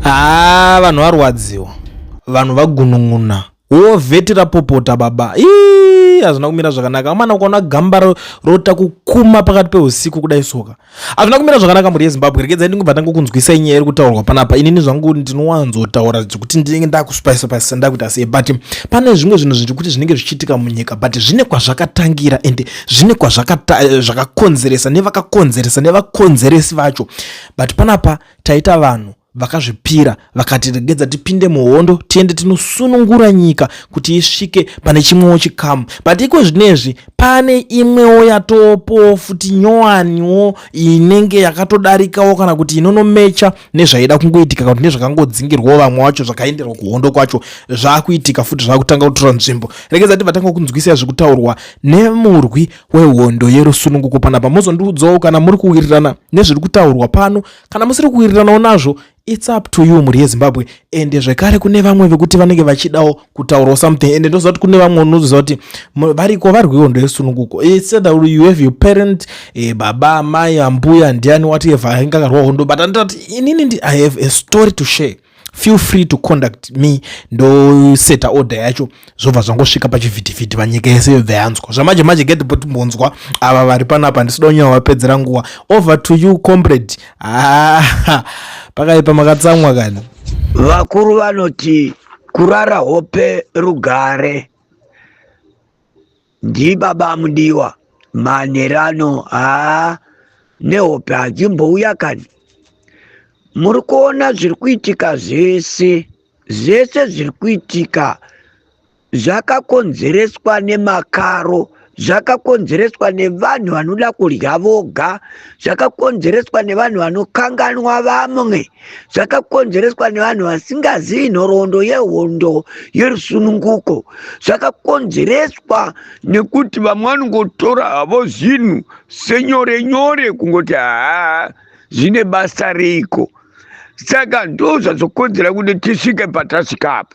haa ah, vanhu varwadziwa vanhu vagunun'una wo vheti rapopota baba ii hazvina kumira zvakanaka amana ukaona gamba rota kukuma pakati peusiku kudai soka hazvina kumira zvakanaka mhuri yezimbabwe rekedza ndingobva tanga kunzwisa inyaya iri kutaurwa panapa inini zvangu ndinowanzotaura zvekuti ndinenge ndakuspice pasi ndakuita sei but pane zvimwe zvinhu zviri kuti zvinenge zvichiitika munyika but zvine kwazvakatangira ende zvine kwazvakakonzeresa eh, nevakakonzeresa nevakonzeresi vacho but panapa taita vanhu vakazvipira vakatiregedza tipinde muhondo tiende tinosunungura nyika kuti isvike pane chimwewo chikamu but iko zvinezvi pane imwewo yatopowo futi nyowaniwo inenge yakatodarikawo kana kuti inonomecha nezvaida kungoitika kana kuti nezvakangodzingirwawo vamwe wacho zvakaenderwa kuhondo kwacho zvaakuitika futi zvaakutanga kutora nzvimbo regedza ti vatanga kunzwisira zviri kutaurwa nemurwi wehondo yerusununguko panapa mozondiudzawo kana muri kuwirirana nezviri kutaurwa pano kana musiri kuwiriranawo nazvo its up to you mhuri yezimbabwe ende zvekare kune vamwe vekuti vanenge vachidawo kutaurawo something ende ndoziva kuti kune vamwe unoziva kuti variko vari kuhondo yesununguko iseda uri you have your parent eh, baba amai ambuya ndiani whatever ainge akarwa hondo but andita kuti inini ndi i have a story to share feel free to conduct me ndoseta order yacho zvobva zvangosvika pachivhitivhiti vanyika yese yobva yanzwa zvamanje manje get but mbonzwa ava vari panapa ndisida unyawa vapedzera nguva over to you comrade ah, pakaipa makatsamwa kani vakuru vanoti kurara hope rugare ndibaba mudiwa manherano haa nehope hadzimbouya kani muri kuona zviri kuitika zvese zvese zviri kuitika zvakakonzereswa nemakaro zvakakonzereswa nevanhu vanoda kudya voga zvakakonzereswa nevanhu vanokanganwa vamwe zvakakonzereswa nevanhu vasingazivi nhoroondo yehondo yerusununguko zvakakonzereswa nekuti vamwe vanongotora havo zvinhu senyore nyore kungoti haa zvine basa reiko saka ndozvazokonzera kuti tisvike patasvikapo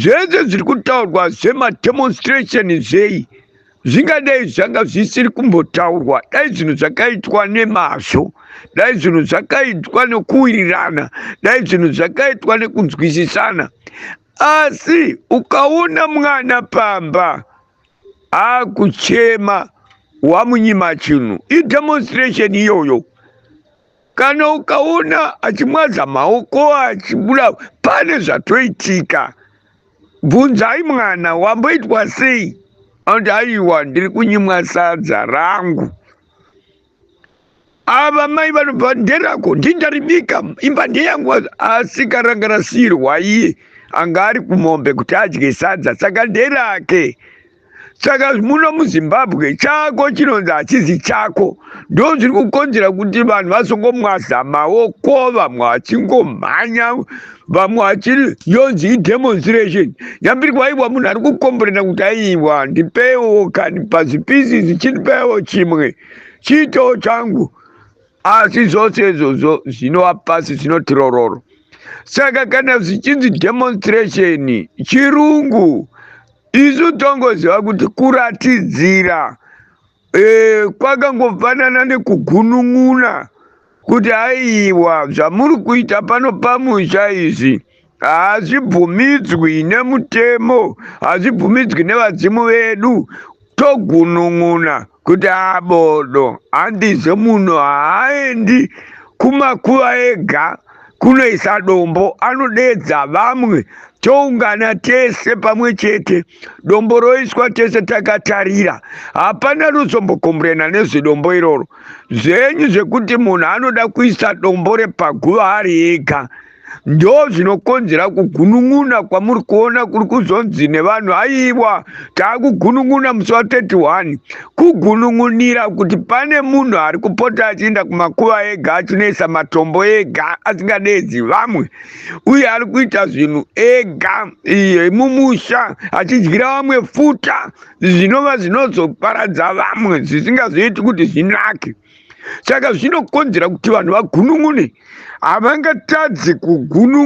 zvese zviri kutaurwa zvemademonstration zvei zvingadei zvanga zvisiri kumbotaurwa dai zvinhu zvakaitwa nemazvo dai zvinhu zvakaitwa nokuwirirana dai zvinhu zvakaitwa nekunzwisisana asi ukaona mwana pamba akuchema wamunyima chinhu idemonstration iyoyo kana ukaona achimwadza maoko achibuda pane zvatoitika bvunzai mwana wamboitwa sei anoti aiwa ndiri kunyimwa sadza rangu ava mai vanobva nderako ndindaribika imba ndeyangu asika ranga rasiyirwa iye anga ari kumombe kuti adye sadza saka nderake saka muno muzimbabwe chako chinonzi hachizi chako ndo zviri kukonzera kuti vanhu vazongomwaza maoko vamwe vachingomhanya vamwe vachiri yonzi idemonstration nyambiri kwaiwa munhu ari kukomborena kuti aiwa ndipeiwo kani pazipisi zichindipewo chimwe chiitoo changu asi zvose izvozvo zvinova pasi zvinoti rororo saka kana zvichinzi demonstration chirungu isu tongoziva kuti kuratidzira e, kwakangofanana nekugunun'una kuti aiwa zvamuri kuita pano pamusha izvi hazvibvumidzwi nemutemo hazvibvumidzwi nevadzimu vedu togunun'una kuti abodo handizo munhu haaendi kumakuva ega ah, kunoisa dombo anodeedza vamwe toungana tese pamwe chete dombo roiswa tese takatarira hapana ruzombokomburena nezvedombo iroro zvenyu zvekuti munhu anoda kuisa dombo repaguva ari ega ndo zvinokonzera kugunun'una kwamuri kuona kuri kuzonzi nevanhu aiwa taakugunun'una musi wa 31 kugunun'unira kuti pane munhu ari kupota achienda kumakuva ega achinoisa matombo ega asingadeedzi vamwe uye ari kuita zvinhu ega iye mumusha achidyira vamwe futa zvinova zvinozoparadza vamwe zvisingazoiti kuti zvinake saka zvinokonzera kuti vanhu vagunun'une havangatadzi kugunun'una